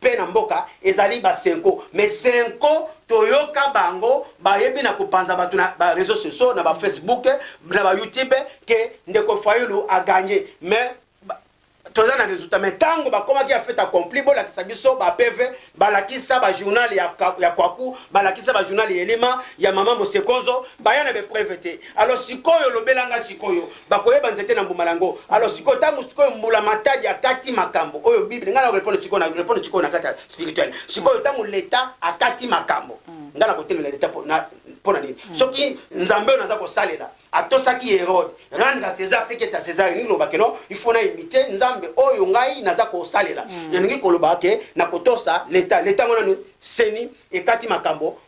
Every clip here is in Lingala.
pe na mboka ezali ba cenco mais cenco toyoka bango bayebi na kopanza batu na ba reseaux sociaux na ba Facebook na ba YouTube ke ndeko Fayulu a gagne mais toza na resultat mais tango bakomaki ya fete accompli bolakisa biso ba PV balakisa ba journal ya, ya kwaku balakisa ba journal ya elima ya mama mosekonzo baya na bepreve te alors sikoyo lobelanga sikoyo Bakoyeba nzete na mbuma na yango. Alors sikoyo tangu sikoyo mbula matadi akati makambo oyo bible ngai na repondre sikoyo na repondre sikoyo na kati ya spirituel sikoyo tangu leta akati makambo ngai na kotelela leta po na mpo na nini mm. soki nzambe oyo naza kosalela atosaki herode rendre à césar ce qui est à césar elingi koloba ke no il faut na imite nzambe oyo ngai naza kosalela mm. elingi koloba ke na kotosa leta leta yango nani seni ekati makambo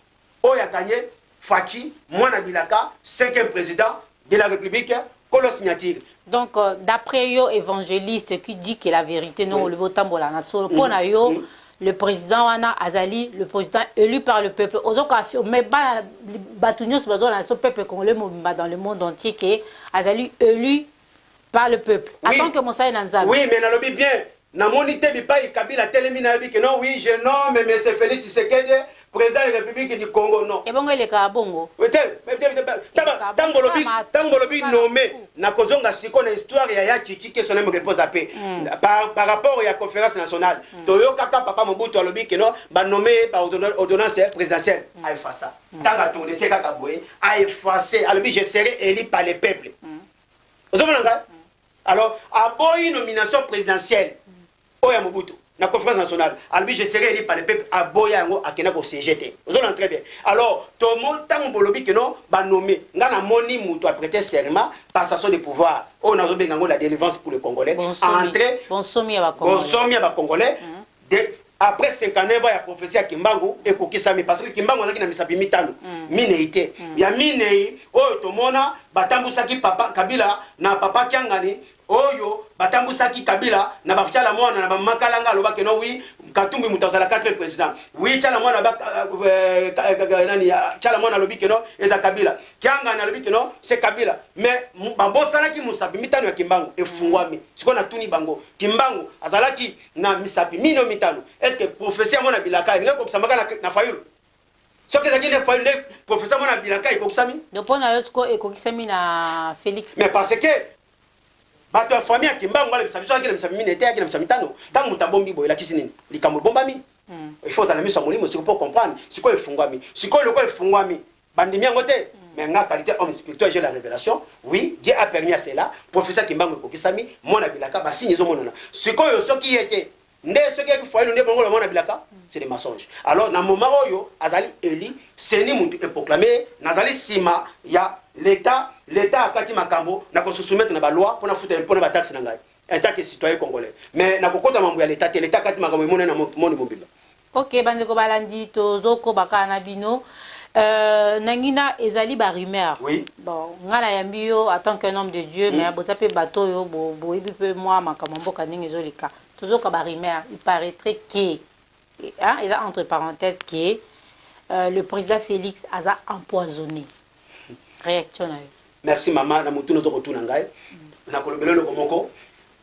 Oyo akanye Fatshi mwana bilaka cinquième president de la republique kolo signature. Donc d'après yo evangeliste qui dit que la verite ndenge olobi otambola na solo mpo na yo le president wana azali le president elu par le peuple ozo ko affirme bana bato nyonso bazolanda so peuple congolais mobimba dans le monde entier que azali elu par le peuple oui, atant que mosali na nzambe oui mais nalobi bien namoni te bipayi kabila atelemi nayebi que non oui je nomme monsieur felix tshisekedi president de republique du congo non ebongo elekaka bongo tango olobi nomme nakozonga siko na histoire ya ya chichi que son aime repose ape mm. par, par rapport ya conférence nationale mm. toyokaka papa mobutu alobi que non banomme ye par ordonnance présidentielle mm. aefasa Ntango atonde se kaka boye, a effacer, alobi je serai élu par le peuple. Ozomona ngai? Alors, aboyi nomination présidentielle oyo ya Mobutu na conférence nationale alobi je serai élu par le peuple aboya yango akenda ko siège te ozolana très bien alors tomo ntango bolobi keno banome ngai namoni moto aprete serment passation de pouvoir oyo nazobenga yango la délivrance pour le congolais entre bonsomi ya bacongolais De, après 59 ans ya prophetie ya Kimbangu ekokisami parce que Kimbangu azalaki na misapi mitano, minei te. Ya minei oyo tomona batambusaki papa Kabila na papa Kiangani oyo batambusaki Kabila na ba Tshala Mwana na ba Mama Kalanga aloba que non oui Katumbi moto azala 4 président. Oui Tshala Mwana ba euh, euh, nani Tshala Mwana alobi que non eza Kabila. Kiangani alobi que non c'est Kabila. Mais babosanaki mosapi mitano ya Kimbangu efungwami. Sikoyo natuni bango Kimbangu azalaki na misapi mino mitano est ce que prophetie yango na bilaka elingi ekokisama kaka na fayulu soki ezalaki nde fayulu nde prophetie yango na bilaka ekokisami donc mpo na yo siko ekokisami na félix mais parce que bato ya famille ya kimbangu balembisa biso ayaki na misapi mine te ayaki na misapi mitano ntango moto abombi boye elakisi nini likambo ebombami il faut ozala miso ya molimo sikoyo mpo comprendre sikoyo efungwami sikoyo lokola efungwami Bandimi yango te mais nga qualité homme spirituel j'ai la révélation oui Dieu a permis à cela professeur Kimbangu ekokisami mwana bilaka ba signe ezo monana sikoyo soki ye te nde soki yaki foyer nde bongo mwana bilaka c'est des mensonges alors na moment oyo azali élu seni mutu e proclamer nazali sima ya l'état l'état akati makambo na ko se soumettre na ba loi pona futa impôt na ba taxes na ngai en tant que citoyen congolais mais na kokota mambo ya l'état te l'état akati makambo emonana na monde mobimba Ok bandeko balandi tozokoba kaka na bino euh, nangina ezali ba rumeur oui. bon ngai nayambi yo atant qu'un homme de dieu mm. mais boza mpe bato oyo boyebi bo mpe mwa makambo mboka ndenge ezoleka tozoka ba rumeur il paraîtrait que hein, eza entre parenthèse que euh, le président félix aza empoisonné réaction na yo merci mama na motuna tokotuna ngai mm. nakolobela eloko moko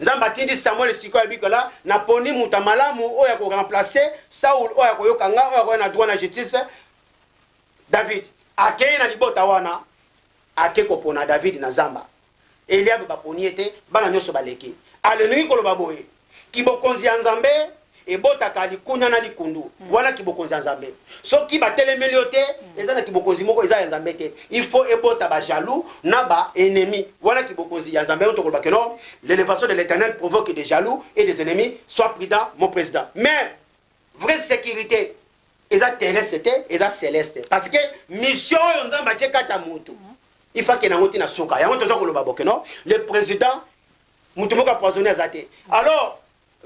Nzambe atindi Samuel sikoyo ya bikala na poni muta malamu oyo ya ko remplacer Saul oyo akoyoka nga oyo akoya na droit na justice David akei na libota wana ake kopona David na zamba Eliab baponi ye te bana nyonso baleki alingi koloba boye kibokonzi ya Nzambe ebotaka likunya na likundu mm. wana kibokonzi ya nzambe soki batelemeli yo te mm. eza na kibokonzi moko eza ya nzambe te il faut ebota bajaloux na baennemi wana kibokonzi ya nzambe yango tokoloba ke no l'élévation de l'éternel provoque des jaloux et des ennemis soit prudent mon président mais vraie sécurité eza terrestre te eza celeste parce que mission oyo nzambe atie kati ya motu mm. il faut akende yango ntina suka yango toza koloba boke no le président motu moko apoisonne aza te alors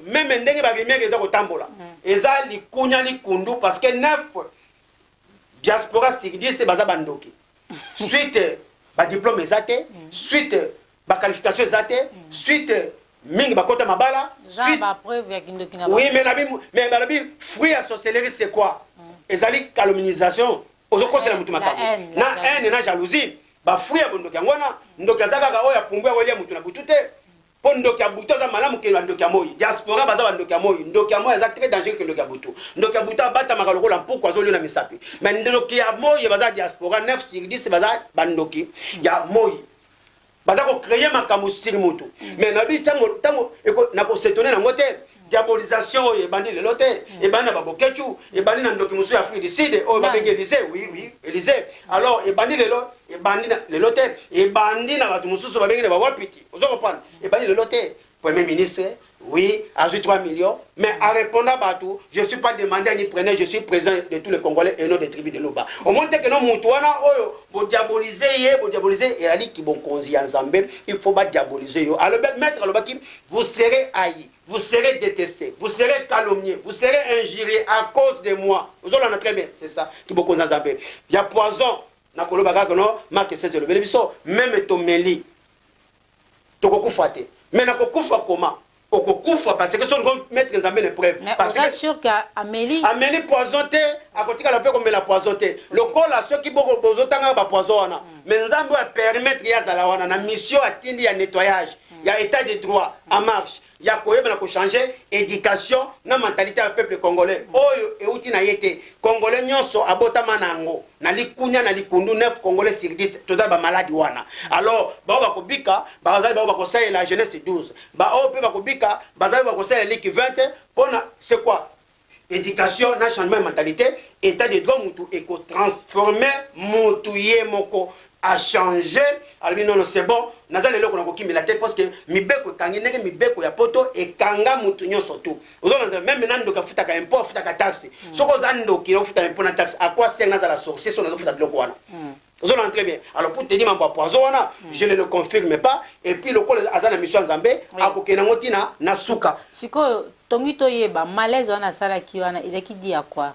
meme ndenge ba rumeur eza kotambola eza likunya likundu parce que neuf diaspora sigdise baza bandoki suite badiplome eza te suite baqualification eza te suite mingi bakota mabala suite oui mais nabi mais balobi fruit ya sorcellerie c'est quoi ezali calomnisation ozokosela motu makambo na haine na jalousie bafruit ya bondoki yango wana ndoki aza kaka oyo apumbwi awelia motu na butu te Po ndoki ya butu aza malamu ke ba ndoki ya moyi. Diaspora baza ba ndoki ya moyi. Ndoki ya moyi aza très dangereux ke ndoki ya butu. Ndoki ya butu abatamaka lokola mpuku azo liona misapi. Mais ndoki ya moyi baza diaspora 9 sur 10 baza ba ndoki ya moyi. Baza ko creer makambo sur mutu. Mais na lobi tango tango eko nako s'etonner nango te. Diabolisation oyo ebandi lelo te, ebandi na ba Boketshu, ebandi na ndoki mosusu ya Afrique du Sud oyo babengi Elysee, oui oui, Elysee. Alors ebandi lelo, ebandi na lelo te, ebandi na bato mosusu babengi na ba Wapiti. Ozo comprendre? Ebandi lelo te. Premier ministre, oui, azwi 3 millions, mais a répondre bato, je suis pas demandeur ni preneur, je suis président de tous les Congolais et non des tribus de Luba. Omoni te que non moto wana oyo bo diaboliser ye, bo diaboliser ezali kibonkonzi ya Nzambe, il faut ba diaboliser yo. Alobaki maître alobaki Vous serez haï, vous serez deteste, vous serez calomnie, vous serez injurie à cause de moi. Ozolanda très bien, c'est ça. Ki bokonzi ya Nzambe ya poison na koloba kaka no Marc 16 elobeli biso meme tomeli tokokufa te mais na kokufa koma okokufa parce que soki mettre nzambe na épreuve parce que sûr que ameli ameli poison te akotikala mpe komela poison te lokola soki boko bozotanga ba poison wana mais nzambe oyo apermettre ye azala wana na mission atindi ya nettoyage ya etat de droit en marche ya koyeba na ko changer education na mentalite ya peuple congolais oyo euti na ye te congolais nyonso abotama na yango na likunya na likundu 9 congolais sur 10 tozali ba maladi wana alors bao bakobika bazali bao bakosalela jeunesse 12 baoyo mpe bakobika bazali bakosalela liki 20 mpo na c'est quoi Education na changement ya mentalite, etat de droit mutu eko transformer mutu ye moko a changer alobi non non c'est bon naza na eloko na kokimela te parce que mibeko ekangi ndenge mibeko ya poto ekanga mutu nyonso tu ozolanda meme na ndoki afutaka impôt afutaka taxe mm. soki oza ndoki ofuta impôt na taxe à quoi sert nazala sorcier so nazofuta biloko wana mm. ozo na très bien alors pour tenir mambo ya poison wana mm. je ne le confirme pas et puis lokola aza na mission ya nzambe oui. akokenda ngo ntina na suka sikoyo tongi toyeba malaise wana asalaki wana ezalaki di ya kwa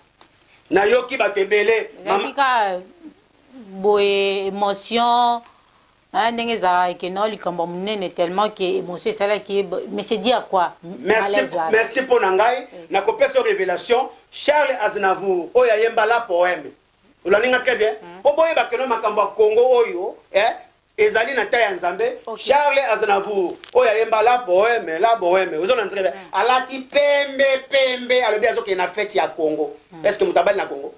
nayoki bato ebele ezalaki ka boye émotion ah, ndenge ezalaka ekenda likambo monene tellement ke émotion esalaki ye mais c'est di ya kwa merci mpo na ngai nakopesa révélation charles aznavour oyo ayemba la poème Olandi nga très bien. Mm. Po boyeba que makambo ya Congo oyo eh ezali na ta ya Nzambe. Okay. Charles Aznavour oyo ayemba la bohème, la bohème. Ozolanda très bien. Mm. Alati pembe pembe, alobi azokende na fête ya Congo. Mm. Est-ce que mutabali na Congo?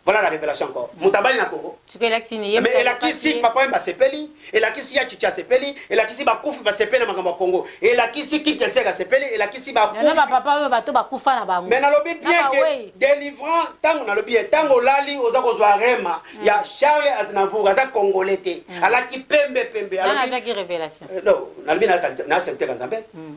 Voilà la révélation encore. Mm. Mutabali na Congo. Tu que elakisi ni yemba. Mais elakisi papa yemba sepeli. elakisi ya chicha sepeli elakisi bakufi basepeli na makambo ya congo elakisi kikeser asepeli elakisi yana bapapa oyo bato bakufa na bango me nalobi bien ke delivrant ntango nalobi ye ntango olali oza kozwa rema mm. ya charles aznavour aza congolais te mm. alati pembe pembe alobinalobinaacepteka nzambe mm.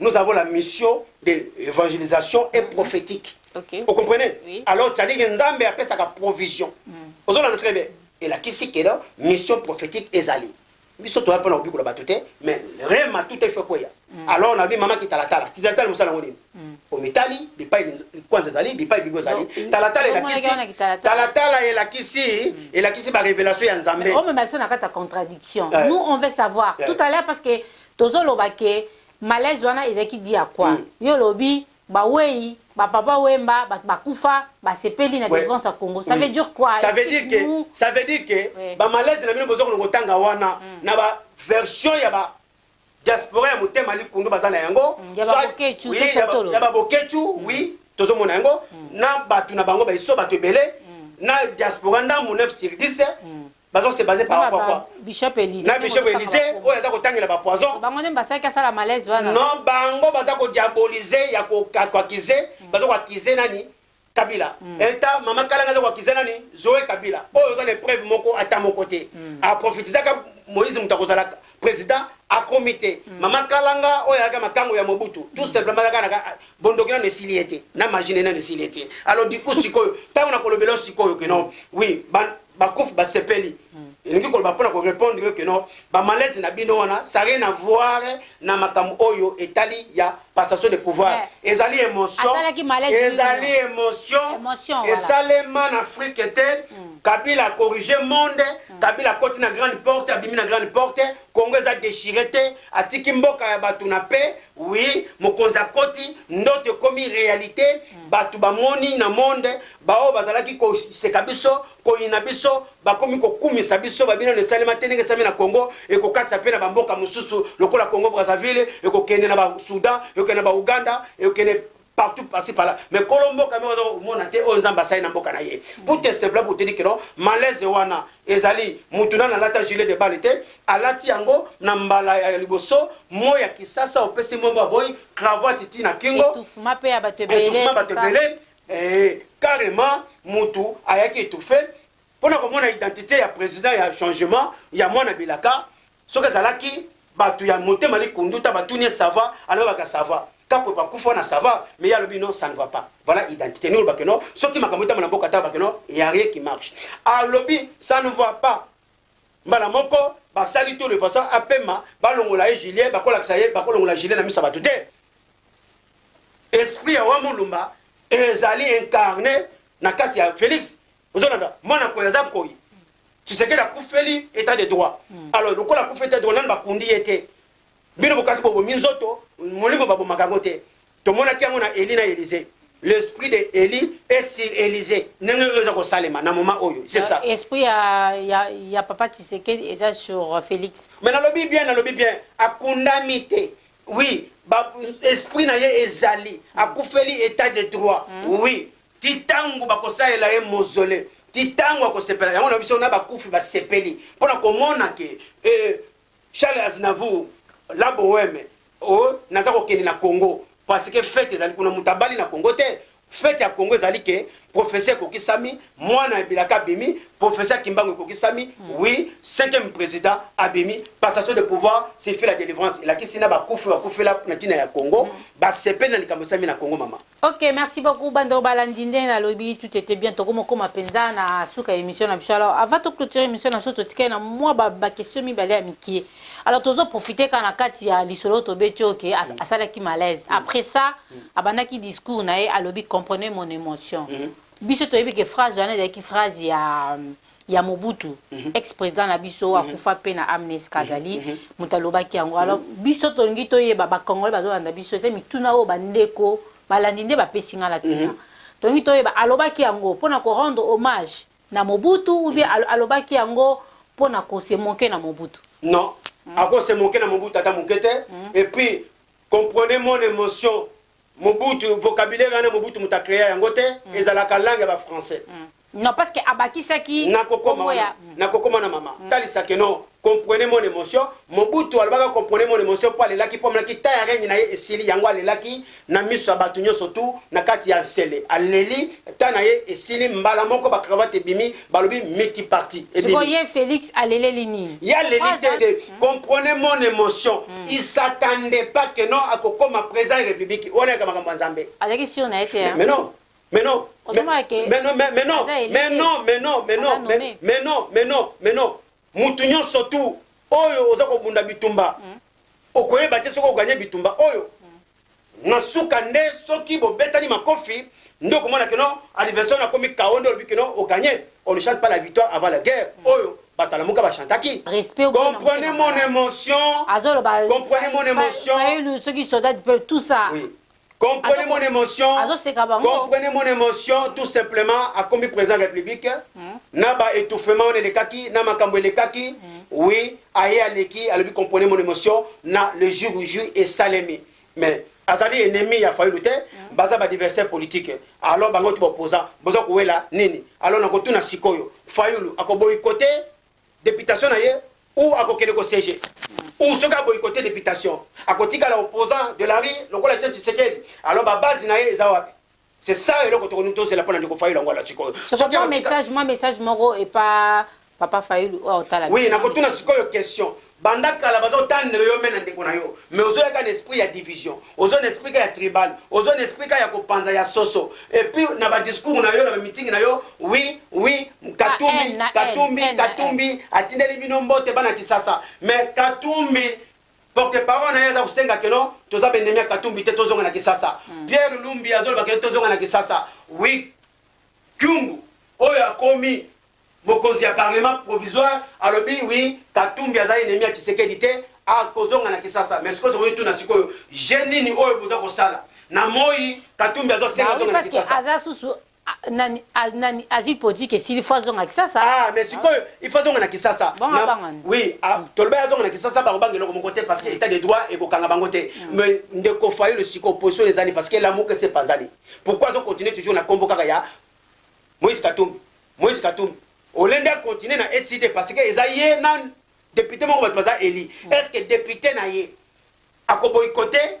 nous avons la mission d'évangélisation et mhm. prophétique. Okay. Vous comprenez oui. Alors, tu as dit que Nzambe appelle ça la provision. Mm. Vous avez très bien. Et là, qui c'est que la mission prophétique est allée biso toya mpona kobikola bato te mais rema tout efe kweya mm. alors na bi mama ki talatala ti talatala mosala yango nini mm. omitali bipai kwanza ezali bipai bibo ezali talatala elakisi talatala elakisi mm. elakisi barevelation ya nzambe omema biso na kati ya contradiction eh. nous on veut savoir eh. tout à l'heure parce que Tozo loba que malaise wana ezalaki dit à quoi? Yo olobi ba weyi, ba papa wemba, batu ba kufa, ba sepeli na delivrance ya Congo. Ça veut dire quoi? Explique nous. Ça veut dire que ba malaise na bino bozo kende ko tanga wana na ba version ya ba diaspora ya motema likundu baza na yango, soit ya ba boketshu oui tozo mona yango na batu na bango ba iso batu ebele na diaspora ndambu 9 sur 10. bazo se base par rapport quoi bishop Elysée na bishop Elysée oyo aza kotangela ba poison bango nde basaki asala malaise wana non bango baza ko diaboliser ya ko akize mm. baza ko akize nani Kabila mm. eta mama Kalanga aza ko akize nani Zoe Kabila oyo oza na preuve moko ata moko te mm. a profitizaka Moïse mutu akozala president akomi te mm. mama kalanga oyo ayaka makango ya mobutu tout mm. simplement ayaka naka ah, bondoki nano esili ye te na magine nano esili ye te alors du coup sikoyo ntango nakolobela sikoyo ke non oui bakufi basepeli mm. elingi koloba mpo na korepondre yo ke non bamalaise na bino wana ça rien à voir na makambo oyo etali ya passation de pouvoir Mais, ezali emotion asalaki malaise ezali mingi. emotion Emotion, voilà. esalema na afrique te kabila corrige monde kabila akoti na grande porte abimi na grande porte congo eza déchire te atiki mboka ya bato na pe wi mokonzi akoti ndoto ekomi réalité bato bamoni na monde baoyo bazalaki koseka biso Koyina biso, bakomi kokumisa biso, ba binano esalema te ndenge esalemi na Congo, ekokatisa pe na ba mboka mosusu lokola Congo Brazzaville, ekokende na ba Soudan, ekokende na ba Ouganda, ekokende partout par ci par là mais kolo mboka moko aza komona te oyo nzambe asali na mboka na ye pour te simple pour te dire que non malaise wana ezali mutu nani alata gilet de balle te alati yango na mbala ya liboso moi ya kisasa opesi mbombo aboyi cravate ti na kingo etouffement bato ebele Eeh carrement mutu ayaki etouffe pona komona identite ya president ya changement ya mwana bilaka soki ezalaki batu ya motema likundu ta batuni ye sava alobaka sava kapwe bakufa na sava mais ye alobi non ça ne va pas voilà identite ni olobake non soki makambo etama na mboka ta bakeno ya rien qui marche alobi ça ne va pas mbala moko basali tout de façon apema balongola ye gilet bakolakisa ye bakolongola gilet na misa bato te esprit ya wa mulumba ezali incarne na kati ya felix ozolanda mwana koyi aza koyi tshisekedi akufeli etat de droit hmm. alors lokola akufi etat de droit nani bakundi ye te bino bokasi bobomi nzoto molimo babomaka yango te tomonaki yango na eli na elize l'esprit de eli est sur elize ndenge oyo eza kosalema na moment oyo c'est ça esprit ya, ya, ya papa tshisekedi eza sur félix mais nalobi bien nalobi bien akundami te oui ba, esprit na ye ezali akufeli état de droit mm. oui ti ntango bakosalela ye mozole ti ntango akosepela yango na biso na bakufi basepeli mpo na komona ke eh, Charles Aznavour la boheme oh naza kokende na Congo parce que fete ezali kuna moto abali na Congo te fete ya Congo ezali ke professeur ekokisami mwana ya bilaka abimi professeur Kimbangu ekokisami mm. oui cinquième président abimi passation de pouvoir c'est fait la délivrance elakisi na bakufi bakufela na ntina ya Congo mm. basepeli na likambo esami na Congo mama Ok, merci beaucoup bando balandi ndenge nalobi tout était bien tokomokoma penza na suka ya émission na biso alors avant to clôturer émission na biso totikali na mwa ba, ba question mibale ya mikie alors tozo profiter kaka na kati ya lisolo oyo tobeti oyo ke as- asalaki malaise après ça abandaki discours na ye alobi comprenez mon émotion biso toyebi ke phrase wana ezalaki phrase ya ya mobutu mm -hmm. ex président na biso mm -hmm. akufa mpe na amnes kazali mm -hmm. moto alobaki yango alors mm -hmm. biso tolingi toyeba bacongolais bazolanda biso eza mituna oyo bandeko balandi nde bapesi ngai na tuna mm -hmm. tolingi toyeba alobaki yango mpo na korendre hommage na mobutu ou bien mm -hmm. alobaki yango mpo na kose moke na mobutu non mm -hmm. akose moke na mobutu ata moke te mm -hmm. et puis comprenez mon émotion Mobutu vocabulaire wana Mobutu moto a crea yango te, ezalaka langue ya ba français. Non parce que abakisaki kombo ya. Nakokoma wana mama, talisa que non comprenez mon emotion, Mobutu alobaka comprenez mon emotion mpo alelaki mpo amonaki temps ya règne na ye esili, yango alelaki na miso ya batu nionso tout na kati ya nsele aleli temps na ye esili, mbala moko ba cravate ebimi balobi multiparti ebimi. Sikoyo ye Felix aleleli nini? Ye aleli te. Comprenez mon emotion il s'attendait pas que non akokoma president ya republique wana yaka makambo ya nzambe Azalaki sur na ye te hein. mais non mais non mais Ozomona ke mais non mais mais non aza eli mais te. non mais non mais non Aza mais nomme. mais non mais non mais non mutu nyonso tu oyo oza kobunda bitumba okoyeba te soki oganye bitumba oyo Na suka nde soki bobetani makofi nde okomona que non anniversaire wana akomi chaos nde olobi que non o gagne. On ne chante pas la victoire avant la guerre oyo bato ya lamuka ba chantaki. Respect oboyi na motema Comprenez mon malamu. emotion. Azoloba Comprenez mon Fa- Fa- emotion. Fayulu soki soldat du peuple tout ça. Oui. Comprenez Azo- mon émotion. azoseka bango. Comprenez mon émotion tout simplement akomi président de la République na ba étouffement wana elekaki na makambo elekaki oui Aye aleki alobi comprenez mon emotion na le jour ou jour esalemi mais azali ennemi ya Fayulu te baza ba diversaire politique alors bango te baopposant boza kowela nini alors nakotuna sikoyo Fayulu akoboyikote deputation na ye ou akokende ko siège ou soki aboyikote deputation akotikala opposant de la rue lokola Etienne Tshisekedi alors ba base na ye eza wapi C'est ça eloko tokolingi tozela pona ndeko Fayulu yango wana sikoyo. Soki mwa message mwa message moko epa papa Fayulu oyo otala. Oui nakotuna sikoyo question. Banda kala bazo tandre yo me na ndeko na yo mais ozo yaka na esprit ya division ozo na esprit ka ya tribal ozo na esprit ka ya kopanza ya soso et puis na ba discours na yo na ba meeting na yo oui oui katumbi katumbi katumbi atindeli bino mbote bana kisasa mais katumbi Porte parole naye aza kosenga que non toza ba ennemis ya katumbi te tozonga na kisasa Pierre lumbi azoloba que tozonga na kisasa oui kyungu oyo akomi mokonzi ya parlement provisoire alobi oui katumbi aza ennemis ya tshisekedi te akozonga na kisasa mais sikoyo tokoki tuna sikoyo je nini oyo boza kosala na moyi katumbi azo senga Bah oui, zonga na parce que kisasa aza susu nani a, nani azwi politique esili fo azonga kisasa ah mais sikoyo il faut azonga na kisasa oui ah, toloba azonga na kisasa bango banga eloko moko te parce que état de droit ekokanga bango te mm. mais ndeko fayulu sikoyo position ezali parce que lamuka ese epanzani pourquoi azo continuer toujours na nkombo kaka ya moïse katumbi moïse katumbi olende acontinue na ecd parce que eza ye na député moko bato baza eli mm. est ce que député na ye akoboyikote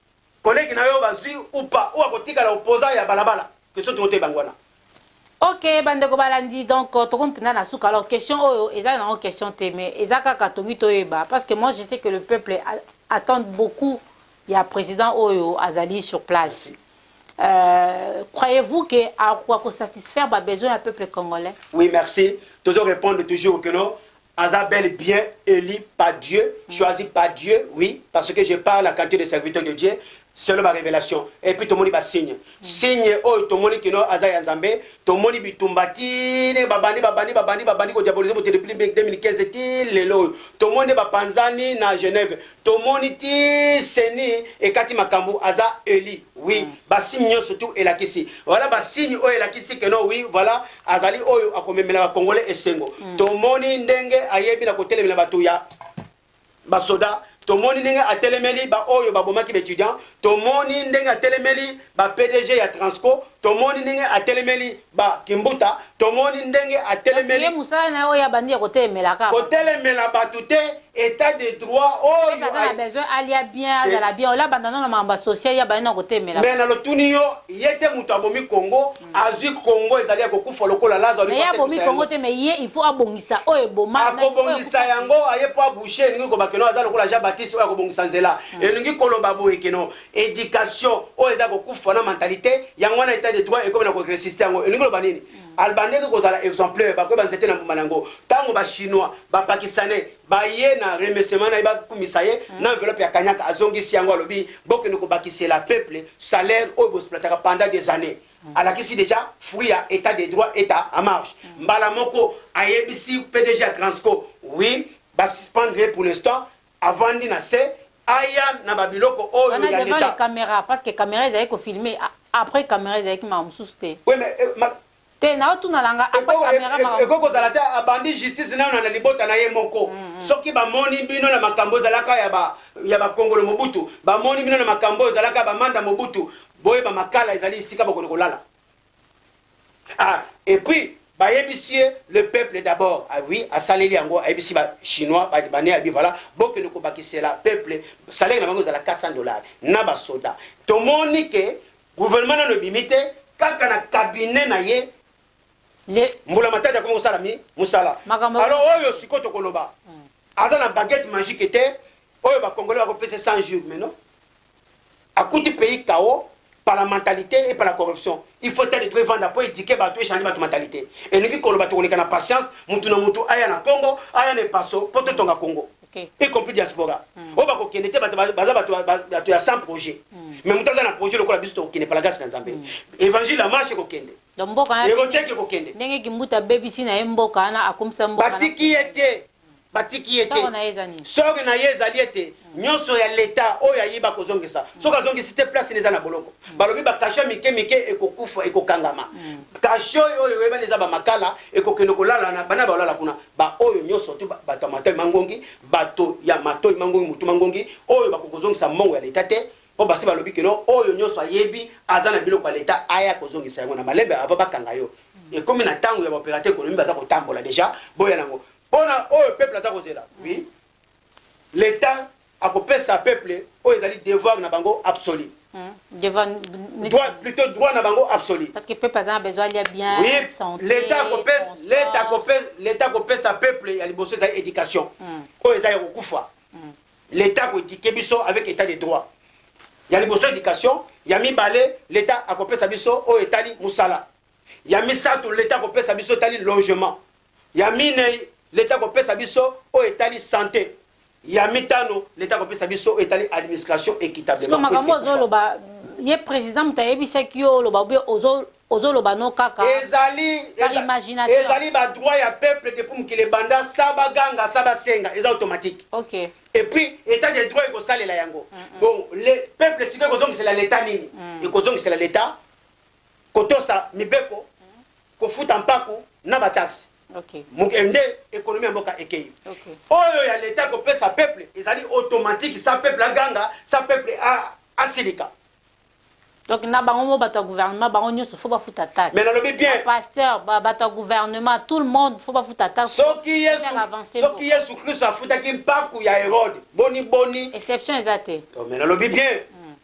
Collègue na yo bazui ou pas ou akotikala opposant ya balabala que soki tokote bango wana. Ok bandeko balandi donc euh, tokomi mpenza na suka alors question oyo eza nango question te mais eza kaka tongi toyeba parce que moi je sais que le peuple attend beaucoup ya président oyo azali sur place euh, croyez-vous que akoka kosatisfaire babesoin ya peuple congolais oui merci tozo répondre toujours que non aza bel et bien elu par Dieu, choisi par Dieu, oui, parce que je parle à qualité de serviteur de Dieu, selon ba revelation et puis tomoni ba signe signe oyo tomoni kino aza ya nzambe tomoni bitumba ti ndenge babandi babandi babandi babandi kodiabolize moto depuis 2015 ti lelo oyo tomoni nde bapanzani na genève Tomoni ti ceni ekati makambu aza elu oui ba signe nionso tout elakisi voila ba signe oyo elakisi que non oui voila azali oyo akomemela ba congolais esengo tomoni ndenge ayebi na kotelemela batu ya ba soda tomoni ndenge atelemeli ba oyo babomaki ba etudiant tomoni ndenge atelemeli ba pdg ya transco tomoni ndenge atelemeli Ba kimbuta tomoni ndenge atelemeli. Donc ye musala naye oyo abandi ya kotelemela kaka batu. Kotelemela batu te etat de droit oyo. Ye pe aza na besoin alia bien azala bien ola banda nanu na makambo ya social ye abandi nanu kotelemela batu. Mais na lotuni yo ye te mutu abomi congo azui congo ezali ya kokufa lokola lazo aluki asekisa yango. Mais ye abomi congo te mais ye il faut abongisa oyo eboma. Akobongisa yango aye po abouche elingi koloba keno aza lokola jean baptiste oyo akobongisa nzela elingi koloba boye keno education oyo eza kokufa na mentalite yango wana etat de droit ekomi na koresiste yango elingi loba nini hmm. albandeke kozala exemplaire bakoyeba nzete na mbuma na yango ntango bachinois bapakistanais baye na remerciement na ye bakumisa ye hmm. na enveloppe ya kanyaka azongisi yango alobi bokende kobakisela peuple salaire oyo bosplataka pendant des années hmm. alakisi déjà fruit ya état de droit eta en marche mbala moko ayebisi pdg ya transco oui basuspendre ye pour l'instant Avandi na se aya na ba biloko oyo ya leta. Wana devant les cameras parce que camera ezalaki ko filmer après camera ezalaki mawa mususu te. Oui mais te nao tuna na nga après camera mawa mususu. Ekoki kozala te abandi justice nayo na libota na ye moko soki ba moni bino na makambu ezalaka ya ba ya ba kongolo mobutu ba moni bino na makambu oyo ezalaka ya ba manda mobutu boyeba makala ezali esika bokoki kolala. Ah et puis bayebisi ye le peuple d'abord ah oui asaleli yango ayebisi ba chinois ba libanais abi voilà bokende kobakisela peuple salaire na bango ezala 400 dollars na ba soda tomoni ke gouvernement nano ebimi te kaka na cabinet na ye le mbula matadi akomi kosala mi mosala alors oyo sikoyo tokoloba hmm. aza na baguette magique te oyo bakongole bakopesa 100 jours mais non akuti pays chaos par la mentalité et par la corruption il faut etat de droit evanda mpo éduquer bato echange bato mentalité elingi koloba tokoleka na patience motu na motu aya na congo aya na epaso mpo totonga congo okay. y compris diaspora mm. oyo bakokende te baza bato ya sans projet mm. mais moto aza na projet lokola biso tokokende palagasi na nzambe mm. évangile ya marche ekokende ekoteki ekokende ndenge kimbuta abebisi na ye mboka wana akomisa mboka batiki ye te batiki ye te. Sori na ye ezali ete nyonso ya leta oyo ayiba kozongisa, soki azongisi te place eza na boloko. Balobi bakasho ya mike mike ekokufa, ekokangama. Kasho oyo oyebani eza bamakala ekokende kolala na bana balala kuna, baoyo nyonso tu bato ya matoi mangongi, bato ya matoi mangongi, motu mangongi oyo bakokozongisa mbongo ya leta te, Po basi balobi que non oyo nionso ayebi aza na biloko ya l'etat aya kozongisa yango na malembe avant bakanga yo ekomi na tango ya ba operateur economique baza kotambola dejà boya nango pona oyo peuple aza kozela oui l'etat akopesa peuple oyo ezali devoir na bango absolu Hmm. Devant... Droit, plutôt droit na bango absolu. Parce que peuple a besoin de bien oui. santé. L'État copèse, l'État copèse, l'État copèse sa peuple ya liboso za éducation. Mm. Oyo eza ya kokufa. l'etat akoedike biso avec etat de droit ya liboso education ya mibale l'etat akopesa biso oyo etali mosala ya misato l'etat akopesa biso etali logement ya minei l'etat akopesa biso oyo etali sante ya mitano l'etat akopesa biso oyo etali administration équitablement makambo ozoloba ye président moto ayebisaki yo oloba obe ozo Ozo loba no kaka Ezali par eza imagination. ezali ba droit ya peuple depuis mokili ebanda sans ba ganga sans ba senga eza automatique. Ok. Et puis etat de droit eko salela yango. Bon le peuple sikoyo eko zongisela l'etat nini? Eko zongisela l'etat ko tosa mibeko, ko futa mpaku na ba taxes. Ok. Mok eh, nde economie ya mboka ekeyi. Ok. Oyo ya l'etat ko pesa peuple ezali automatique sans peuple a ganga, sans peuple a asilika. donc na bango mo bato ya gouvernement bango nyonso fo bafuta taxe mais nalobi bien pasteur bato ya gouvernement tout le monde fo bafuta taxe soki yesu soki yesu kristo afutaki mpaku ya herode boni boni exception eza te oh, mais nalobi bien mm.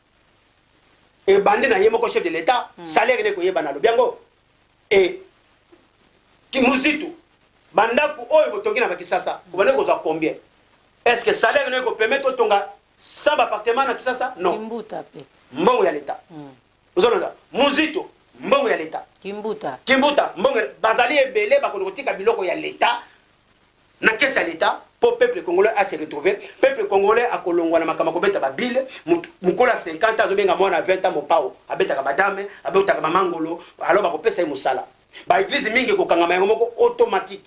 ebandi na ye moko chef de l'etat mm. salaire ne koyeba nalobi yango e kimuzitu bandako oyo botongi na bakisasa obandi kozwa combien est ce que salaire ne ekopermettre otonga Sans ba appartement na kisasa non. Kimbuta pe. Mbongo ya l'etat. Mm. Ozo landa. Muzito mbongo ya l'etat. Kimbuta. Kimbuta mbongo bazali ebele bakono kotika biloko ya l'etat na kesi ya l'etat po peuple congolais a se retrouver peuple congolais akolongwa na makambo kobeta ba bile mukolo ya 50 azo benga mwana 20 ans mopao abetaka madame abetaka mama ngolo alors bakopesa ye musala ba eglise mingi kokangama yango moko automatique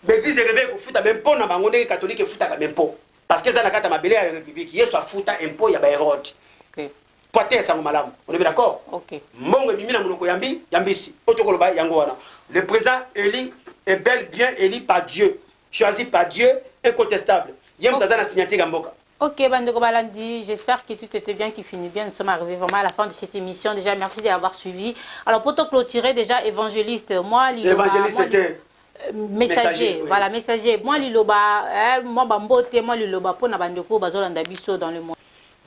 ba eglise de reveil kofuta bempo na bango ndenge catholique efutaka bempo Parce que eza na kati ya mabele ya Republique. Yesu afuta impôt ya ba Herode. Okay. Mpo ateya sango malamu. On est d'accord? Okay. Mbongo emimi na monoko ya mbi ya mbisi. Oyo tokoloba yango wana. Le président élu est bel bien élu par Dieu. Choisi par Dieu, incontestable. Ye moto aza na signature ya mboka. Ok, Bandeko Balandi, j'espère que tout était bien, qui finit bien. Nous sommes arrivés vraiment à la fin de cette émission. Déjà, merci d'avoir suivi. Alors, pour te clôturer, déjà, évangéliste, moi, Liloma, Évangéliste, c'était messager voilà messager mwa liloba eh, mwa bambote mwa liloba mpo na bandeko oyo bazolanda biso dans le monde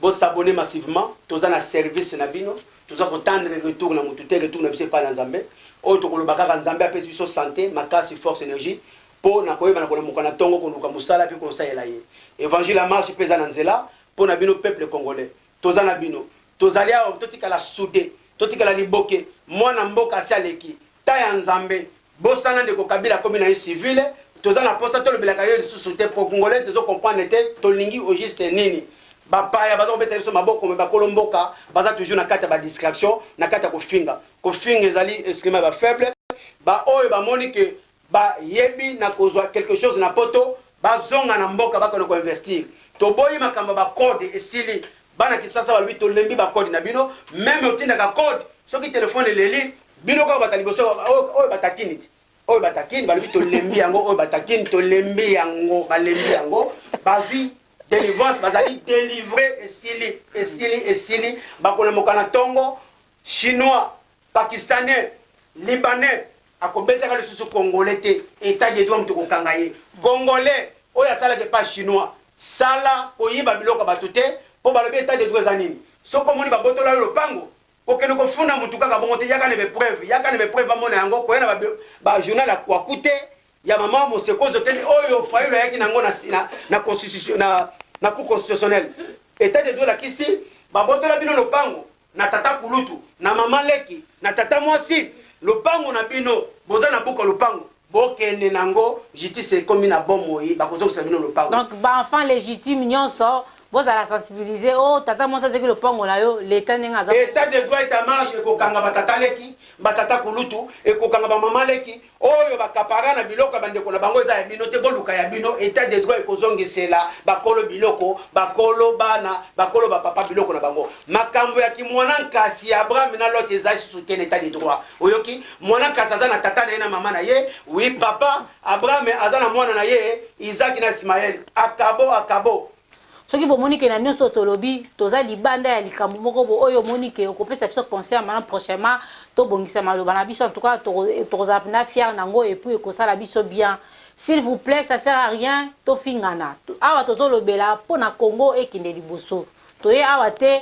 bosabone massivement toza na service na bino toza kotandre retour na motu te retour na biso epai na nzambe oyo tokoloba kaka nzambe apesi biso sante makasi force energie mpo na koyeba na kolamuka na ntongo koluka mosala mpe kosalela ye evangile ya marche mpe eza na nzela mpo na bino peuple congolais toza na bino tozali awa totikala soude totikala liboke mwana mboka asi aleki Ta ya nzambe bosana ndeko kabila akomi naye civile toza na posa tolobelaka yo lisusu te po cngolais tozo comprendre te tolingi au juste nini ba paya baza kobetela biso maboko mais bakolo mboka baza toujours na kati ya ba distraction na kati ya kofinga kofinga ezali instrument ya ba faible ba oyo bamoni que ba yebi na kozua quelque chose na poto Bazonga na mboka bakende ko investir. Toboyi makambo ya ba code esili bana kisasa balobi tolembi ba code na bino meme otindaka code soki telephone eleli bino kaka bata liboso oyo batakini ti oyo batakini balobi tolembi yango oyo batakini tolembi yango balembi yango bazwi delivrance bazali delivre esili esili esili bakolamoka na tongo chinois Pakistanais, Libanais akobetaka lisusu Congolais te, etat de droit moto ekokanga ye. Congolais oyo asalaka epa Chinois, sala koyiba biloko ya bato te po balobi etat de droit eza nini? Soki omoni babotola yo lopango, kokende kofunda moto kaka bongo te, yaka na ba epreuves, yaka na ba epreuves bamona yango, koya na ba journal ya kwakute, ya mama moseko ozo kende, oyo Fayulu ayaki na yango na constitution, na cour constitutionnelle. Etat de droit elakisi babotola bino lopango, na tata kulutu na mama leki na tata mwasi lopango na bino boza na buka lopango bokende na ngo justice ekomi na bomoi bakozongisa bino lopango donc ba enfant legitime nyonso bozala sensibiliser o oh, tata mwasi azoki lopango na yo leta ndenge aza etat de droit et à marge ekokanga batata leki batata kulutu ekokanga bamama leki Oyo ba capara na biloko ya bandeko na bango eza ya bino te boluka ya bino etat de droit ekozongisela bakolo biloko bakolo bana bakolo ba papa biloko na bango makambo ya ki muana nkasi ya Abraham na Lot eza lisusu te na etat de droit oyoki muana nkasi aza na tata na ye na mama na ye oui papa Abraham aza na muana na ye Isaac na Ismaël akabo akabo Soki bomoni ke na nionso tolobi toza libanda ya likambo moko bo oyo omoni ke okopesa biso conseil ya malamu prochainement tobongisa maloba na biso en tout cas tokozala pena fier na ngo et puis ekosala biso bien s'il vous plait ça sert à rien tofingana awa tozolobela pona Congo ekende liboso toye awa te